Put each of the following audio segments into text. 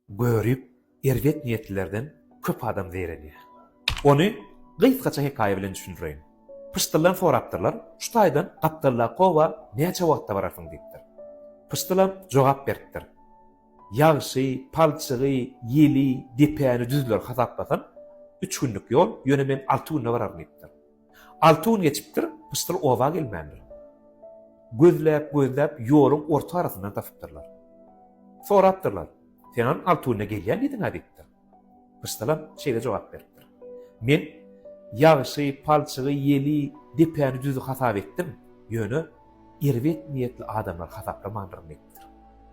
Görip, erbet niýetlilerden köp adam zeýrenýär. Ony gysgaça hekaýa bilen düşündireýin. Pyşdyldan sorapdyrlar, Şu taýdan gapdaldaky oba näçe wagtda bararsyň? diýipdir. Pyşdylam jogap beripdir, Ýagşy, palçygy, ýeli, depäni, düzleri hasaplasan, üç günlük ýol, ýöne men alty günde bararyn diýipdir. Alty gün geçipdir, pyşdyl oba gelmändir. Gözläp-gözläp ýoluň orta arasyndan tapypdyrlar. Sorapdyrlar, Seňem alty günde gelýän diýdiň-ä diýipdir. Pyşdylam şeýle jogap beripdir, Men ýagşy, palçygy, ýeli, depäni, düzi hasap etdim, ýöne erbet niýetli adamlary hasaplamandyryn diýipdir.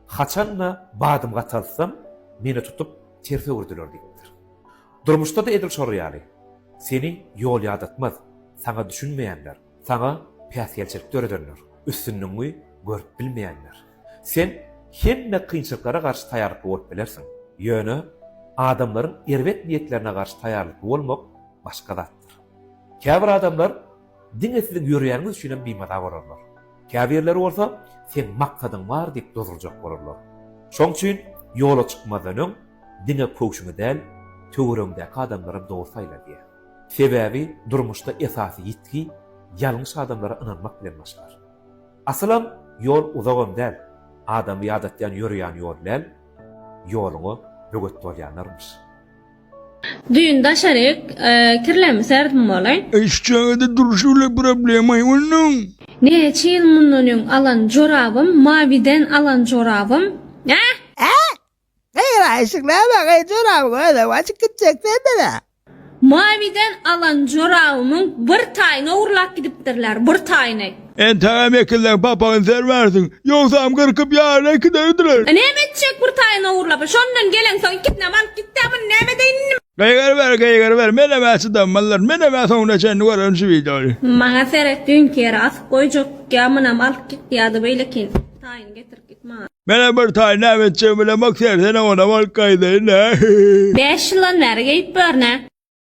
Haçan-da badym gataltsam, meni tutup ters öwürdiler diýipdir. Durmuşda-da edil şol ýaly. Seni ýol ýadatmaz, saňa düşünmeýänler, saňa päsgelçilik döredenler, üstünligiňi görüp bilmeýänler. Sen hemme kynçylyklara garşy taýýarlykly bolup bilersiň, ýöne adamlaryň erbet niýetlerine garşy taýýarlykly bolmak başga zatdyr. Käbir adamlar Diňe siziň ýöränňiz üçinem bimaza bolarlar. Käbirleri bolsa, Seň maksadyň bar diýip dozurjak bolarlar. Şoň üçin ýola çykmazdan öň diňe köwşüňi däl, töweregiňdäki adamlaram dogry saýla diýer. Sebäbi durmuşda esasy ýitgi ýalňyş adamlara ynanmak bilen başlar. Asylam ýol uzagam däl, adamy ýadatýan ýörýän ýol däl, ýoluňa böwet bolýanlarmyş. Düýn daşaryk kirlemi serdim bolaý. Eş çagada durşy bile problemaý onuň. Näçe ýyl mundan öň alan jorabym mawiden alan jorabym äh. Äh! Eýwa eşik näme gyz joraby gözüm açyk gitjek sendede. Mawiden alan jorabymyň bir taýyny ogurlap gidipdirler bir taýyny. Entegem ekilseň papagyny sermersiň, ýogsam gyrkyp ýaryna ikide ödürer. Näme etjek bir taýyň ogurlapy, şondan geleňsoň ikisinem alyp gitdä muny näme edeýin indi men. Gygyryber gygyryber menemä çydanmazlar menemä soňuna çenli görerin şu wideony. Maňa seret düýnki ýere asyp goýjak ýa munam alyp git ýada beýlekin taýyny getirip git maňa. Menem bir taýy näme etjegimi bilemok sersene onam alyp gaýdaýyn nä. Bäş ýyldan bäri geýip ýörün-ä.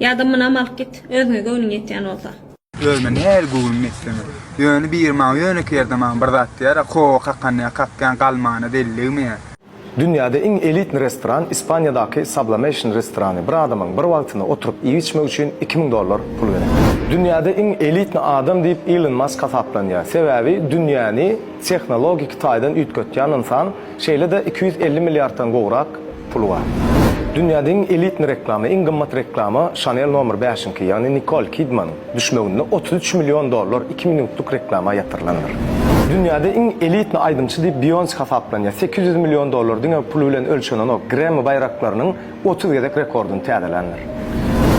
Ýa-da munam alyp git, özüňe göwnüň ýetýän bolsa. Özüme nähili göwnüm ýetseňem. Ýöne biri maňa ýönekeý ýerde maňa bir zat diýer-ä, Kowa kakanyňa kakýaň, galmana delligme. Dünýäde iň elitni restoran Ispaniýadaky Sublamation restorany, bir adamyň bir wagtyna oturyp iýip-içmek üçin iki müň dollar pul gerek. Dünýäde iň elitni adam diýip Ilon Mask hasaplanýar, sebäbi dünýäni tehnologiki taýdan üýtgetýän ynsan, Şeýle-de iki ýüz elli milliarddan gowrak puly bar. Dünýäde iň elitni reklama, iň gymmat reklama Chanel nomer bäşiňki, ýagny Nikol Kidmanyň düşmeginde otuz üç million dollar iki minutlyk reklama ýatyrylandyr. Dünýäde iň elitni aýdymçy diýip Beýonse hasaplanýar, sekiz ýüz million dollar diňe puly bilen ölçenenok, Grammy baýraklarynyň otuz gezek rekordyny täzeländir.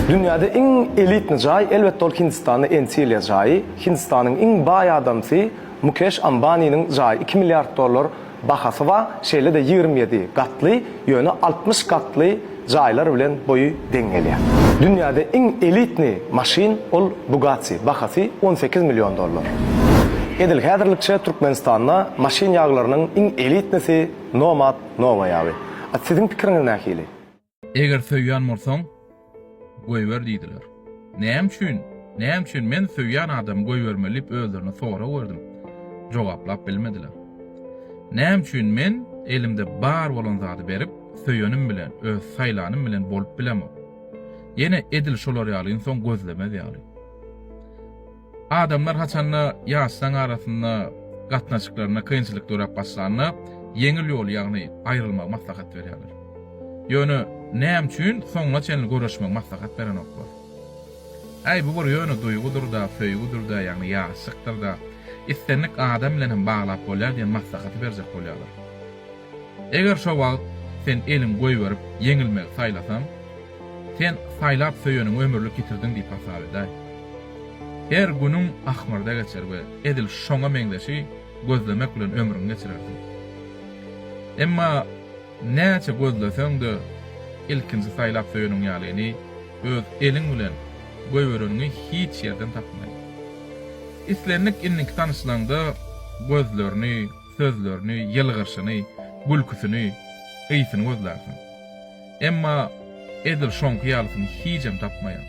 Dünýäde iň elitni jaý, elbetde ol Hindistanda Entilýa jaýy, Hindistanyň iň baý adamsy, Mukeş Ambaniniň jaýy iki milliard dollar bahasy bar, şeýle-de ýigrimi ýedi gatly, ýöne altmyş gatly jaýlar bilen boýy deň gelýär. Dünýäde iň elitni maşyn ol Bugatti, bahasy on sekiz million dollar. Edil häzirlikçe Türkmenistanda maşyn ýaglarynyň iň elitnisi Nomad Nova ýagy. A siziň pikiriňiz nähili? Eger söýýän bolsaň, goýber diýdiler. Näme üçin, näme üçin men söýýän adamy goýbermeli diýip özlerine sorag berdim. Jogaplap bilmediler. Näme üçin men elimde bar bolan zady berip, söýenim bilen, öz saýlanym bilen bolup bilemok. Ýene edil şolar ýaly ynsan gözlemez ýaly. Adamlar haçanda ýaşlaň arasynda gatnaşyklarynda kynçylyk döräp başlanda ýeňil ýoly, ýagny aýrylmagy maslahat berýärler. Ýöne näme üçin soňuna çenli görüşmegi maslahat berenoklar? Äý, bu bir ýöne duýgudyr-da, söýgüdir-dä, ýagny ýaşlykdyr-da, islendik adam bilen hem baglap bolýar diýen maslahaty berjek bolýarlar. Eger şo wagt sen eliňi goýberip, ýeňilmegi saýlasaň, Sen saýlap söýeniňi ömürlik ýitirdiň diýip hasap edäý. Her günüň ahmyrda geçer we edil şoňa meňzeşi gözlemek bilen ömrüňi geçirersiň. Emma näçe gözleseň-de, ilkinji saýlap söýeniň ýalyny, öz eliň bilen goýbereniňi hiç ýerden tapmaýyň. Islendik indiki tanyşlaňda gözlerini, sözlerini, ýylgyrşyny, gülküsini, ysyny gözlärsiň. Emma edil şoňky ýalysyny hijem tapmaýar.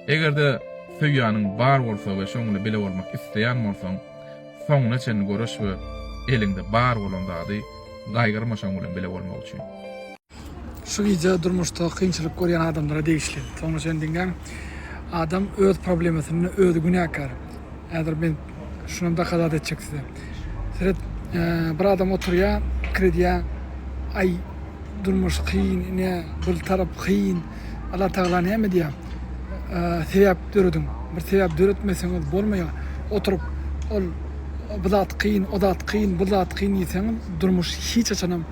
Eger-de söýýäniň bar bolsa we şoňla bile bolmak isleýän bolsaň, soňuna çenli göreş we eliňde bar bolan zady gaýgyrma şoň bilen bile bolmak üçin. Şu wideo durmuşda kynçylyk görýän adamlara degişli. Soňuna çenli diňläň. Adam öz problemasyna özi günäkär. Häzir men Şunam dokadat etjek size. Seret, bir adam oturýa, pikir edýä, aý, durmuş kyn, ine, bir tarap kyn. Allah Tagala näme diýä? Sebäp dörediň. Bir sebäp döretmeseňiz bolmaýa. Oturyp, ol bu zat kyn, o zat kyn, bu zat kyn diýseňiz, durmuş hiç haçanam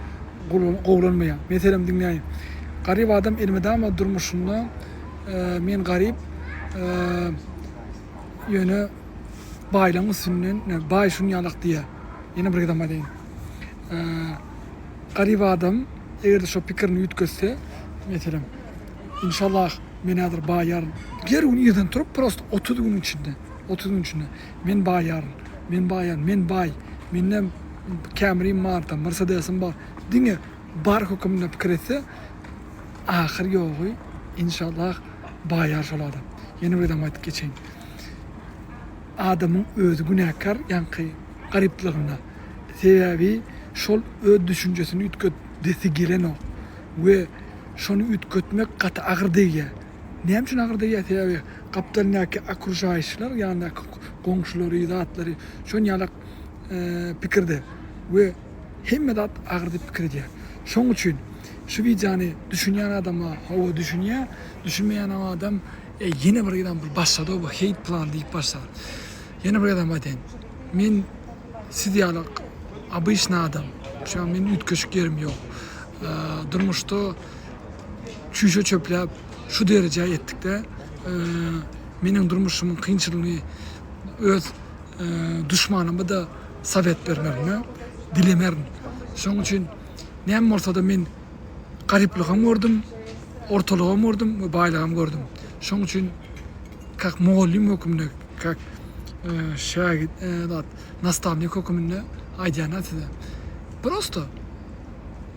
gowulanmaýa. Meselem diňläý. Garyp adam elmydama durmuşynda men garyp, Ýöne baýlaň üstünden ne baý şun ýalak diýýä. Ýene bir gezem aýdaýyn. Garyp adam eger-de şo pikirini üýtgetse, meselem, inşallah men häzir baýaryn. Her gün irden turup prosto otuz günüň içinde, otuz günüň içinde men baýaryn, men baýaryn, men baý, mende Camry-m bar, tam Mercedes-im bar. Diňe Bar höküminde pikir etse ahyr ýogy inşallah baýar şol adam. Ýene bir zam aýdyp geçeýin. Adamyň özi günäkär ýaňky garyplygyna. Sebäbi şol öz düşünjesini üýtgedesi gelenok we şony üýtgetmek gaty agyr degýär. Näme üçin agyr degýär? Sebäbi gapdalyndaky okruşaýyşlar, ýandaky goňşulary, zatlary şon ýalak pikirde we Hemme zat agyr diýip pikir edýär. Şoň üçin şu wideony düşünýän adama hawa düşünýär, düşünmeýänam adam ýene bir gezem bir başlady bu hate plan diýip başlar. Ýene bir gezem aýtaýyn. Men siz ýaly obyçny adam. Şuňa men üýtgeşik ýerim ýok. Durmuşda çüýşe çöpläp şu derejä ýetdikde meniň durmuşymyň kynçylygyny öz duşmanymy da sowet bermegini dilemerin. Şoň üçin näme bolsa-da men garyplygam gördüm, ortalygam gördüm we baýlygam gördüm. Şoň üçin kak mugallym hökmünde, kak e, şägit, e, nastavnik hökmünde aýdýan size. Prosto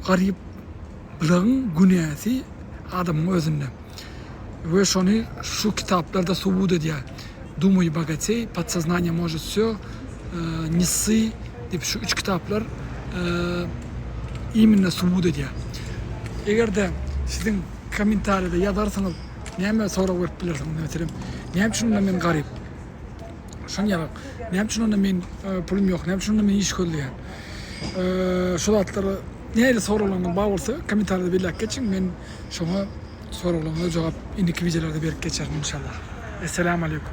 garyp Bularyň günäsi adamyň özünde. We şony şu kitaplarda subut edýär. Dumuj bogatej, Podsoznaniýe možet wsё, Ne ssi diýip şu üç kitaplar immnno subut edýär. Egerde siziň kommentariýada ýazarsyňyz näme sorag berip bilersiňiz meselem näme üçin onda men garyp şony ýazarsyňyz näme üçin onda men pulum ýok näme üçin onda men iş gözleýän şu zatlara nähili soraglaryňyz bar bolsa kommentariýada belläp geçiň men Şoňa soraglaryňyza jogap indiki wideolarda berip geçerin inşallah. Esselamu aleykum.